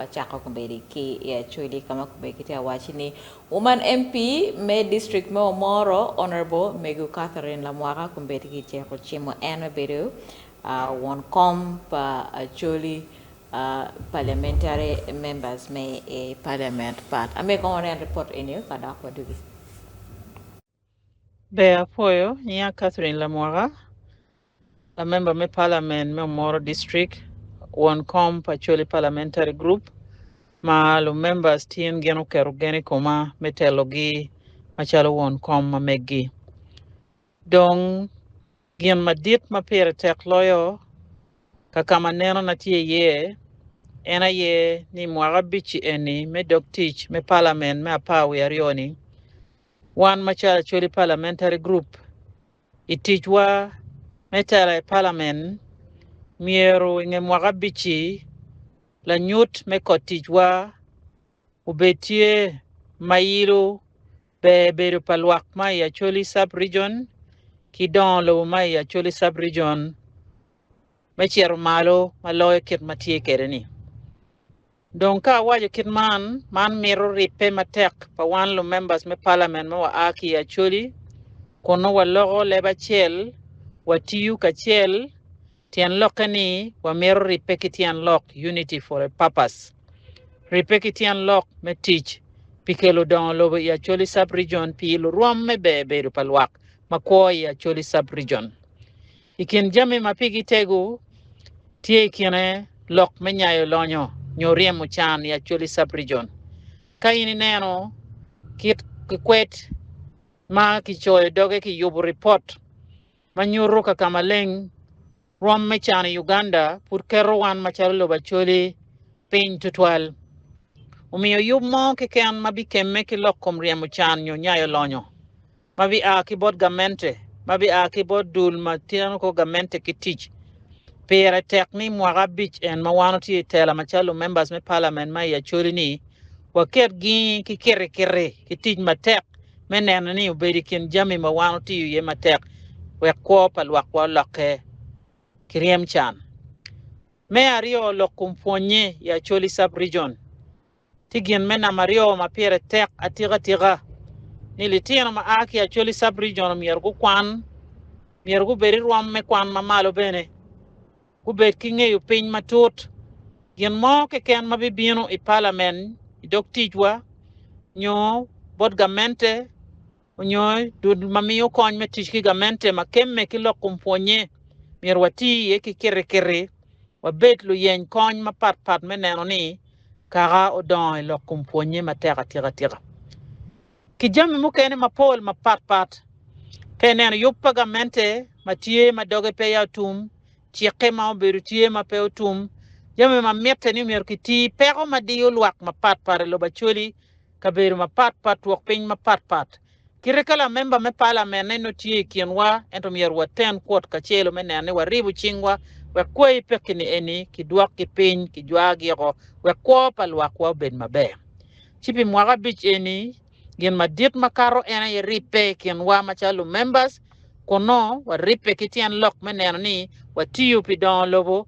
Acako kombeddi ki i Acholi ka ma kombeddi kitye ka wacci ni Woman MP me district me Omoro Honourable Megu Catherine Lamwaka kombeddi kiceko cimo en me bedo won kom pa Acholi Parliamentary members me i Parliament part. Amiyo kong waneno report eni ka dok wadugi. Ber apwoyo, nyinga Catherine Lamwaka, lamemba me Parliament me Omoro District, won kom pa Acholi Parliamentary Group, ma lu members tin gin oketo gen i koma me telogi macalo won kom ma meggi. Dong gin madit ma pire tek loyo kakama neno na tye iye en aye ni mwaka abic-ci eni me dog tic me Parliament me apar wiye aryo ni Wan macalo Acholi Parliamentary Group, i ticwa me tela i Palamen, myero i nge mwaka abic-ci, lanyut me kot ticwa obed tye ma ilo ber bedo pa lwak ma i Acholi Sub-Region ki dongo lobo ma i Acholi Sub-Region. me cito malo ma loyo kit ma tye kwede-ni. Dong ka awaco kit man, man mito ribbe matek pa wan lumembers me Palament ma wa a ki i Acholi kun nongo waloko leb acel, watiyo kacel, tyen lokke ni wamito ribbe ki tyen lok unity for a purpose, ribbe ki tyen lok me tic pi kelo dongo lobo i Acholi Sub-Region pi lurwom me ber bedo pa lwak ma kwo i Acholi Sub-Region. I kin jami ma pigi tego, tye i kine lok me nyayo lonyo nyo ryemo can i Acholi Sub-Region. Ka in ineno kit kikwet ma kicoyo doge ki yubo ripot ma nyuto ka ka maleng rwom me can i Uganda pud keto wan macalo lobo Acholi piny tutwal, omiyo yub mo keken ma bikemme ki lok kom ryemo can nyo nyayo lonyo. ma bia ki bot gamente ma bia ki bot dul ma teno kor gamente ki tic. Pire tek ni mwaka abic en ma wan watye i tela macalo lumembers me Palament ma i Acholi-ni, waket gingi ki kirikiri ki tic matek me neno ni obedo i kin jami ma wan watiyo iye matek wek kwo pa lwakwa olokke ki ryem can. Me aryo, lok kom pwonye i Acholi Sub-Region. Tye gin me namba aryo ma pire tek atikatika ni litino ma a ki Acholi Sub-Region omyero gukwan. Myero gubed i rwom me kwan ma malo bene, gubed ki ngeyo piny matut gin mo keken ma bibino i Palamen, i dog ticwa, nyo bot gamente onyo dul ma miyo kony me tic ki gamente ma kemme ki lok kom pwonye, myero wati iye ki kirikiri wabed luyeny kony mapat pat me neno ni kaka odongo ilok kom pwonye matek atika tika. Ki jami mukene mapol mapat pat. Ka ineno yub pa gamente ma tye ma doge pe ya otum, cikke ma obedo tye ma pe otum, jami ma mitte ni myero ki ti, peko ma diyo lwak mapat pat ilobo Acholi, kabedo mapatpat wek piny mapatpat. Kite ka lamemba me Palamen en nongo tye i kinwa, ento myero waten kwot kacelo me neno ni waribo cingwa wek kwai pekki-ni eni kidwokgi piny, kijwayogi oko wek kwo pa lwakwa obed maber. Ci pi mwaka abic eni, gin madit makato en aye ribbe i kinwa macalo lumembas, kun nongo waribbe ki tyen lok me neno ni watiyo pi dongo lobo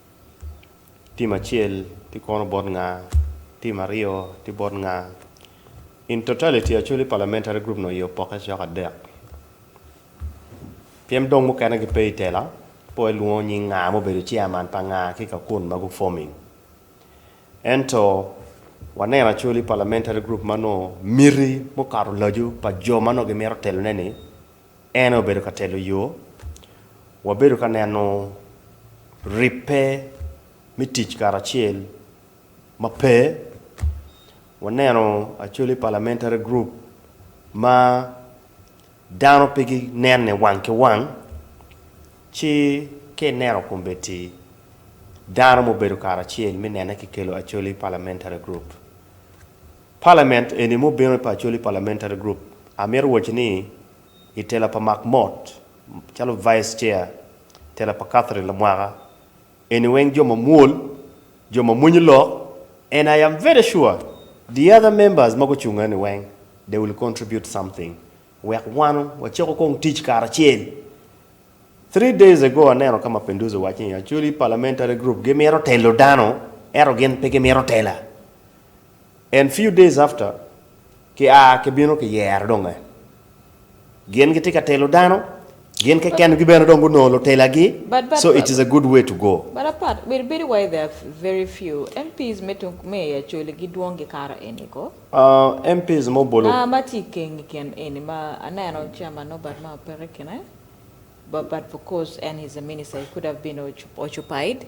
Tim acel tye kono bot nga? Tim aryo tye bot nga? In totality, Acholi Parliamentary Group nongo iye opokke cok adek. Pyem dong mukene gipe i tela, po ilwongo nying nga ma obedo chairman pa nga ki ka kun ma gu-forming. Ento, waneno Acholi Parliamentary Group ma nongo miti mukato laco pa jo ma nongo gimito telone-ni En aye obedo ka telo yo. Wabedo ka neno ribbe me tic karacel ma pe. Waneno actually parliamentary group ma dano pe ginene wang ki wang. Ci ka ineno kombeddi dano ma obedo karacel me nene kikelo actually parliamentary group. Parliament eni ma obino i pa Acholi Parliamentary Group, amito waco ni i tela pa Mark Mott calo Vice Chair, tela pa Catherine Lamwaka, eni weng jo ma mwol, jo ma mwenyo lok and I am very sure the other members ma gucung eni weng they will contribute something wek wano wacako kong tic karacel. Three days ago aneno ka Mapinduzi owaco ni Acholi Parliamentary Group gimito telo dano eto gin pe gimito tela. And few days after ki a ki bino ki yero dong eh gin gitye ka telo dano gin keken gi bene dong gunongo lutela gi so it is a good way to go. But apat bedo bedo wai there are very few MPs me tung me i acholi gi dwong gi kara eni ko. Uh MPs mo bolo. Nga ma tye ikeng i kin eni ma aneno chairman Norbert ma opeke kine but but because en he's a minister he could have been occupied.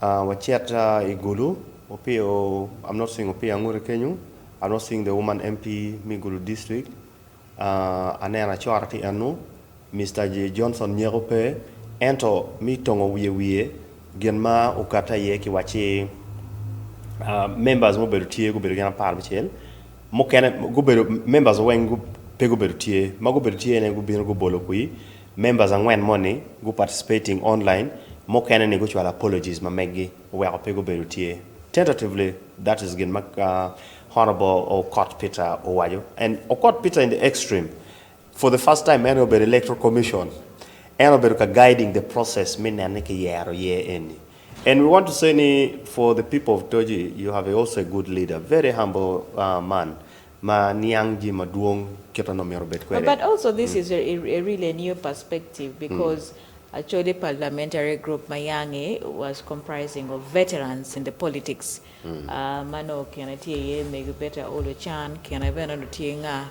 Wacit i Gulu, Opio, I'm not seeing Opio Anguti kenyo, I'm not seeing the woman MP me Gulu district, aneno Acora ki eno, Mister Johnson Nyeko pe, ento me tongo wiye wiye gin ma okatte aye ki wacci members mubedo tye gubedo gin apar bicel, mukene gubedo members weng pe gubedo tye, ma gubedo tye ne gubino gubolo kwi Members angwen moni gu participating online mukene ni gucwalo apologies ma meggi oweko pe gubedo tye tentatively that is gin ma Honourable Okot Peter owaco and Okot Peter in the extreme for the first time en aye obedo electoral commission en obedo ka guiding the process me nene ki yero year eni and we want to say ni for the people of Toji you have a also a good leader very humble man ma niang jami madwong kit ma nongo myero obed kwede. But also this is a a really a new perspective because Acholi parliamentary group ma yange was comprising of veterans in the politics ma nongo kine tye iye mego Betta Olo Can, kine bene nongo tye nga?